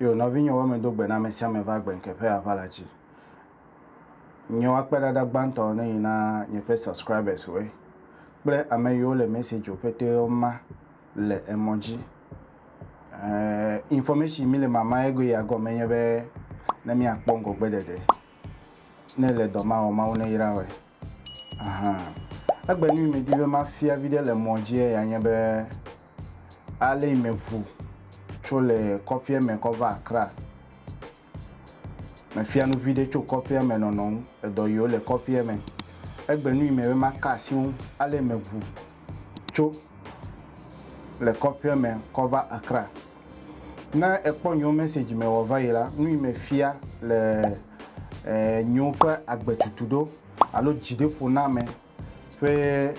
Yo, nɔvinyɔwo eme do gbe na ame sia ame va gbe ŋke ƒe aʋala dzi. Nye woakpeɖaɖa gbãtɔ ne yi na nye ƒe subscribers woe kple ame yiwo le message wo ƒeteo ma le emɔ dzi. Eh, information mi le mama ego ya gɔme nye be ne mi akpɔ ŋgɔgbe ɖeɖe. ne ele dɔ ma wɔm, Mawu neyra wɔe. Ahan. Egbe nu yi medi be mafia viɖe le mɔ dzie ya nye be ale yi meŋu tso le kɔƒea me kɔ va Accra. Mefia nu viɖe tso kɔƒea me nɔnɔ ŋu le dɔ yiwo le kɔƒea me. Egbe nu yi me be maka asi ŋu ale yi meŋu tso le kɔƒea me kɔ va Accra. Ne ekpɔ nyewo message me wɔ va yi la, nu yi me fia le eh, nyewo ƒe agbetutu ɖo alo dziɖeƒoname ƒe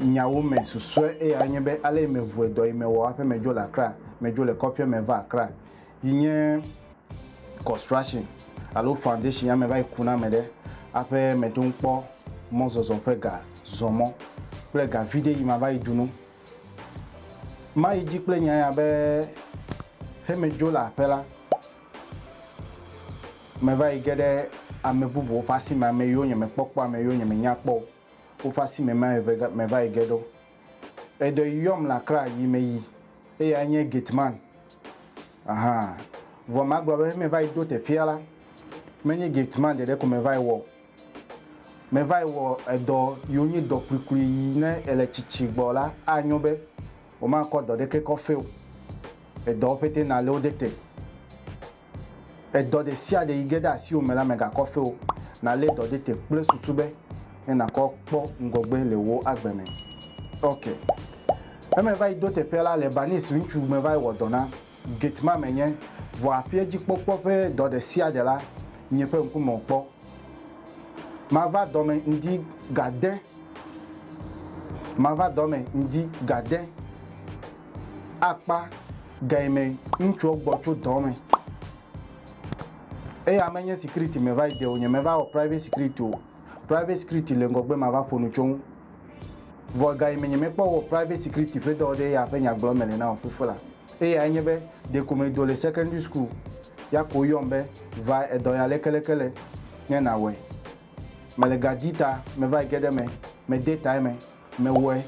nyawo me susue eya nye be ale yi me ŋue dɔ yi me wɔ hafi me dzo le Accra, me dzo le kɔƒea me va Accra. yi nye construction alo foundation ame va yi ku na ame ɖe aƒe meɖo ŋkpɔ mɔzɔzɔ ƒe ga zɔ mɔ kple ga vi ɖe yi ma va yi dunu ma yi dzi kple nya ya be he me dzo le aƒe la me va yi ge ɖe ame bubuwo ƒe asi me ame yiwo nye me kpɔkpɔ ame yiwo nye me nya kpɔ woƒe asi me ma me va yi ge ɖo Eɖe yɔm le Akra yi meyi. Eyae nye Gateman. Aha. Vɔ magblɔ be meva yi do teƒea la, menye Gateman ɖeɖe ko meva yi wɔ o. Meva yi wɔ edɔ yi wonye dɔ kpuikpui yi ne èle tsitsi gbɔ la, anyo be womakɔ dɔ ɖeke kɔ feo. Edɔwo ƒete nalé wo ɖe te. Ƒe dɔ ɖe sia ɖe yi ge ɖe asiwò me la megakɔ fe o. Nàlé dɔ ɖe te kple susu be ne nàkɔ kpɔ ŋgɔgbe le wò agbe me. Ok. Ƒe me va yi do teƒea la, Lebanese ŋutsu me va yi wɔ dɔ na. Gate-man menye, vɔ aƒea dzi kpɔkpɔ ƒe dɔ ɖe sia ɖe la, nye ƒe ŋku me wòkpɔ. Mava dɔ me ŋdi gade. Mava dɔ me ŋdi gade. akpa gae me ŋutsuwo gbɔ tso dɔ me. Eya menye security me va yi de o, nye me va wɔ private security o. Private security le ŋgɔgbe ma va ƒo nu tso ŋu. Vɔ gae me nye me kpɔ wɔ private security ƒe dɔ ɖe eya ƒe nyagblɔ me le na wò fifo la. Eyae nye be ɖeko me do le secondary school ya ko yɔm be va edɔ ya lekeleke le ne na wɔe. Me le ga di ta me va yi ge ɖe me, me de ta eme. Mewɔe,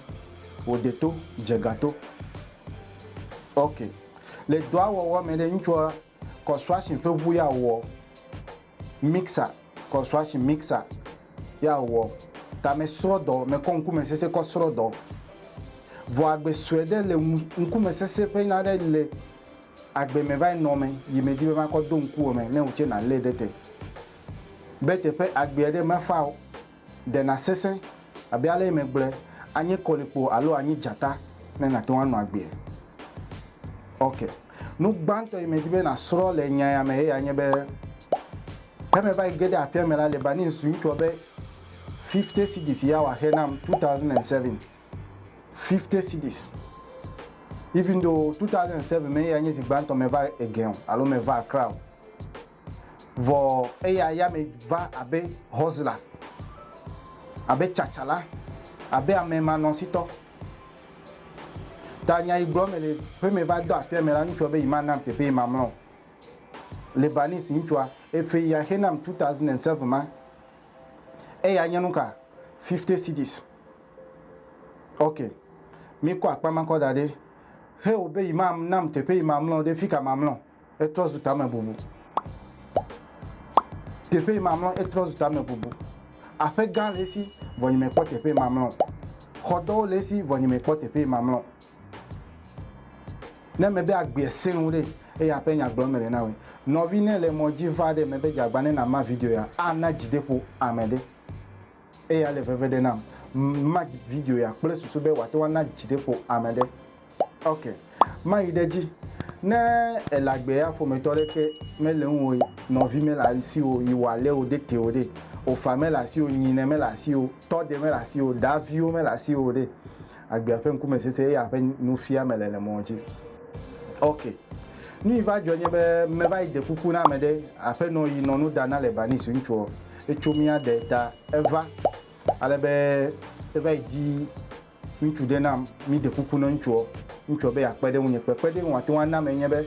wòɖe to, dze ga to. Ok. Le dɔa wɔwɔ me ɖe, ŋutsua construction ƒe ŋu ya wɔ, mixer, construction mixer ya wɔ, ta me srɔ dɔ, me kɔ ŋkume sese kɔ srɔ dɔ. Vɔ agbe sɔe ɖe le ŋkume sese ƒe nya ɖe le agbe me va nɔ me yi me di be ma kɔ do ŋkuwò me ne wò tse na le ɖe te. Be teƒe agbea ɖe me fa o. Ɖe nàsesẽ abe ale si megblɔe anye kɔlikpo alo anyi dzata ne nàte ŋu anɔ agbee? Ok. Nu gbãtɔ si medi be nàsrɔ̃ le nya ya me eyae nye be, Ke meva yi ge ɖe aƒea me la, Lebanese ŋutsua be fifty cedis ya wòaxe nam, two thousand and seven. Fifty cedis. Even though two thousand and seven me eyae nye zi gbãtɔ meva Egean alo meva Accra o. Vɔ eya yame va abe Hɔzla, abe tsatsala, abe amɛmanɔsitɔ. Ta nya yi gblɔ mele ƒe me va dɔ aƒea me la, ŋutsua be yi ma nam teƒe yi ma mlɔ o. Lebanese ŋutsua, efe ya xe nam 2007 ma, eya nye nuka? 50 cedis. Ok, mi kɔ akpa ma kɔ da ɖɛ. Xe o be yi ma nam teƒe yi ma mlɔ ɖe fika ma mlɔ. Etrɔ zu tamebubu. Teƒe mamlɔ etrɔ zu tamebubu. Aƒe gã le esi, vɔ nyemekpɔ teƒe mamlɔ. Xɔdɔwo le esi, vɔ nyemekpɔ teƒe mamlɔ. Ne mebe agbeɛ sẽ ŋu ɖe, eya ƒe nya gblɔm mele na wòe. Nɔvi ne le mɔ dzi va ɖe mebe dze agba ne na ma video ya, ana dzideƒo ame ɖe. Eya le veve ɖe nam. Mark video ya kple susu be wòate ŋu ana dzideƒo ame aɖe. Ok, mayi ɖe edzi. Ne èle agbe ya ƒometɔ aɖeke mele ŋuwò, nɔvi mele asiwò, yi wò alẽwo de te o ɖe, wò fa mele asiwò, nyinɛ mele asiwò, tɔ ɖe mele asiwò, daviwo mele asiwò o ɖe, agbea ƒe ŋkume sese eye aƒe nufiame le le mɔ dzi. Ok. Nu yi va dzɔ nye be me va yi de kuku na ame ɖe, aƒenɔ yi nɔ nu da na le Banis ŋutsuɔ, etso mía de ta eva ale be eva yi di ŋutsu ɖe nam, mi de kuku na ŋutsuɔ, ŋutsuɔ be ya kpe ɖe ŋunye kpe kpe ɖe ŋu ate ŋu ana me nye be.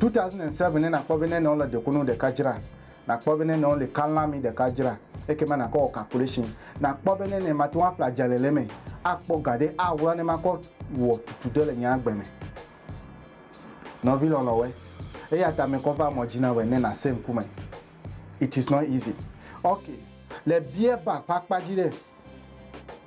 2007 ne nakpɔ be ne nɔle dekunu ɖeka dzra nakpɔ be ne nɔle kalami ɖeka dzra ekema nakɔ wɔ calculation nakpɔ be ne ne mate ŋu aƒle adza le le me akpɔ ga ɖe awla ne makɔ wɔ tutu ɖe le nye agbe me nɔvi lɔlɔ wɛ eya ta me kɔ va mɔ dzi na wɛ ne nase ŋku me it is not easy ok le biɛ ba ƒe akpa dzi ɖe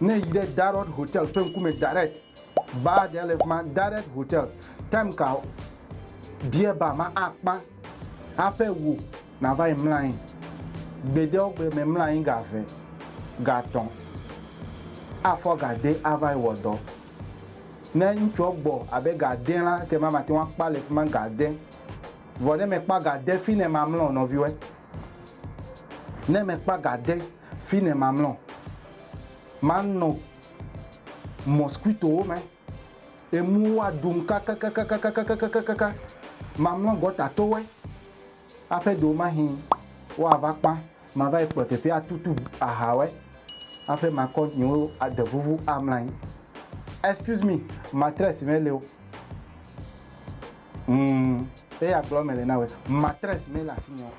Ne èyi ɖe Darod Hotel ƒe ŋkume direct, baa ɖe le fima, Direct Hotel. Time ka o, beer bar ma akpã haƒe wò nàva yi mla anyi. Gbedeɔgbe me mla anyi ga ve, ga tɔ̃, afɔ ga de ava yi wɔ dɔ. Ne ŋutsuɔ gbɔ abe ga de la, ekema mate ŋu akpa le fima ga de. Vɔ ne mekpa ga de fine mamlɔ nɔviwɔe. Ne mekpa ga de. Fine mamlɔ, manɔ mɔskuitowo me, emuwo aɖum kakakakakakakakakakaka, mamlɔ gɔtatowe, aƒe ɖewomahi woava kpã, mava yi kplɔ teƒe atutu ahawe, aƒe makɔ nyewo ade vuvu amlɔ anyi. Excuse me, matress meli o. Humm. Eya gblɔ mele na wòe. Matres mele asinye o.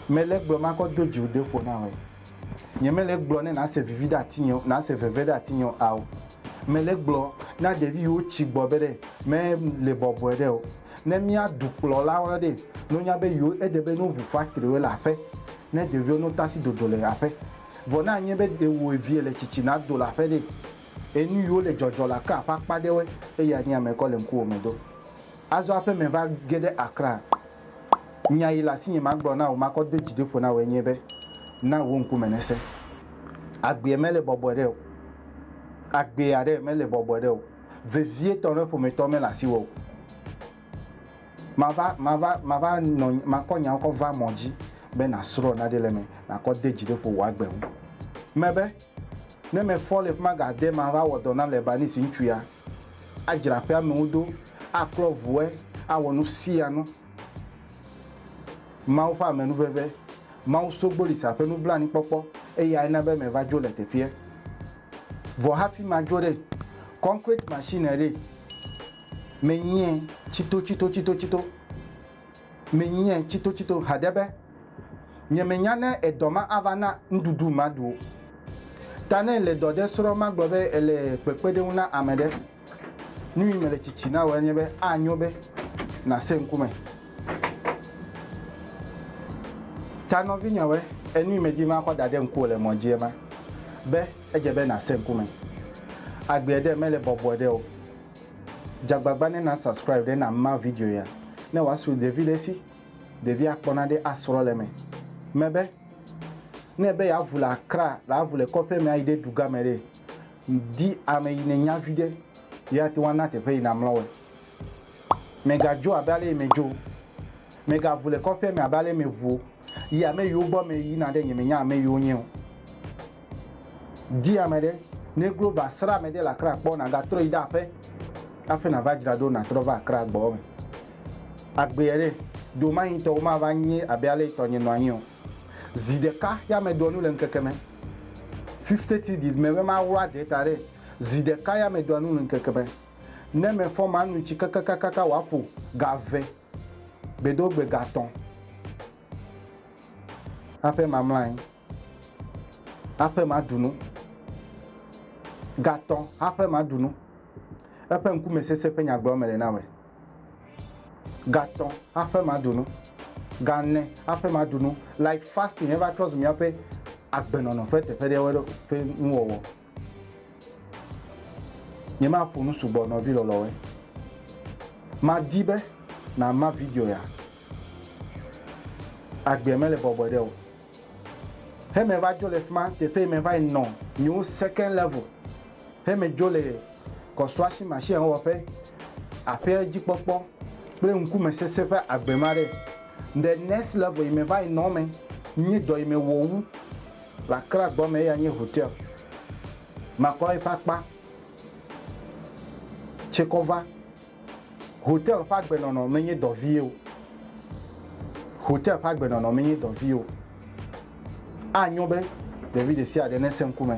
Mele egblɔ makɔ do dziwò de ƒo na wòe. Nyemele egblɔ ne nase vivi ɖe atinye o, nase veve ɖe atinye o ao. Mele egblɔ na ɖevi yiwo tsi gbɔ be ɖe me le bɔbɔe ɖe o. Ne mía dukplɔlawo lɔ ɖe, no nya be yiwo ede be no ʋu fatriwo le aƒe ne ɖeviwo no tasi dodo le aƒe. Vɔ ne anye be ɖe wò evie le tsitsi na do le aƒe ɖe. Eye nu yiwo le dzɔdzɔ la ke aƒe akpa ɖewoe, eye anyi ame kɔ le ŋkuwò me do. Azɔ aƒe me va ge ɖe Accra. Nya yi le asinye magblɔ na wò makɔ do dzi ɖi ƒo na wòe nye be, Na wò ŋkume nese. Agbea mele bɔbɔe ɖe o. Agbee aɖe mele bɔbɔe ɖe o. Vevietɔ ne ƒometɔ mele asiwò o. Mava, mava, mava nɔ, makɔ nyawo kɔ va mɔ dzi be nàsrɔ̃ nane le eme, nàkɔ de dzi ɖi ƒo wò agbe ŋu. Mebe. Ne mefɔ le fi ma gade me ava wɔ dɔ na Lebanese ŋutsu ya, adzra aƒea me ŋu ɖo, aklɔ ʋue, awɔ nu sia nu. Mawu ƒe amenuveve, Mawu Sogbolisa ƒe nublanuikpɔkpɔ, eyae na be meva dzo le teƒea. Vɔ hafi madzo ɖe, concrete machine ɖee menye tsitotsitotsitotsito. Menyae tsitotsito haɖe be nyemenya ne edɔ ma ava na nuɖuɖu maɖu o. Ta ne èle dɔ ɖe srɔ̃m agblɔ be èle kpekpeɖeŋu na ame ɖe, nui mele tsitsi na wòe nye be anyo be nàse ŋku me. Ta nɔvinyewɔe, enui medi be makɔ daɖe ŋkuwò le mɔ dzi ema be edze be nàse ŋku me. Agbeɛ ɖe mele bɔbɔe ɖe o. Dza agbagba ne na subscribe ɖe na ma video ya ne wa su ɖevi ɖe si ɖevi a kpɔ na ɖe a srɔ le me me be ne be ya vu le akra le a vu le kɔƒe me a yi ɖe duga me ɖe di ame yi ne nya vi ɖe yi a te wa na teƒe yi na mlɔ we me ga dzo abe ale yi me dzo me ga vu le kɔƒe me abe ale me vuo yi ame yi wo gbɔ me yi na ɖe nye me nya ame yi wo nye o. Di ame ɖe, ne glo va srã ame ɖe le Accra kpɔ, nàgatrɔ yi ɖe aƒe hafi nàva dzra ɖo nàtrɔ va Accra gbɔɔ me. Agbeɛ ɖe, domanyitɔwo mava nye abe ale yi tɔnye nɔ anyi o. Zi ɖeka ya medoa nu le ŋkeke me. Fifty cedis me be maɣlo ade ta ɖe, zi ɖeka ya medoa nu le ŋkeke me. Ne mefɔ manu tsi kakakakaka wòaƒo ga ve, gbedoogbe ga tɔ̃ hafi mamla anyi. Haƒe maɖu nu. Gatɔ haƒe maɖu nu. Eƒe ŋkume sesẽ ƒe nyagblɔ mele na wòe. Gatɔ haƒe maɖu nu. Gane haƒe maɖu nu. Like fasting eva trɔ zu míaƒe agbenɔnɔ ƒe teƒe ɖewoe ɖo ƒe nuwɔwɔ. Nyemaƒo nu sugbɔ nɔvi lɔlɔwoe. Madi be nàma video ya. Agbea mele bɔbɔe ɖe o. He me va dzo le fima teƒe me va yi nɔ new second level he me dzo le construction machine wɔƒe, aƒea dzi kpɔkpɔ kple ŋkume sese ƒe agbe ma ɖe. Ŋɖe next level yi me va yi nɔ me nyi dɔ yi me wɔ wu le Accra gbɔ me eya nye hotel. Makplɔ yi ƒe akpa tse kɔ va. Hotel ƒe agbenɔnɔ menye dɔ vie o. Hotel ƒe agbenɔnɔ menye dɔ vie o. Anyo be ɖevi ɖesiaɖe nese ŋkume.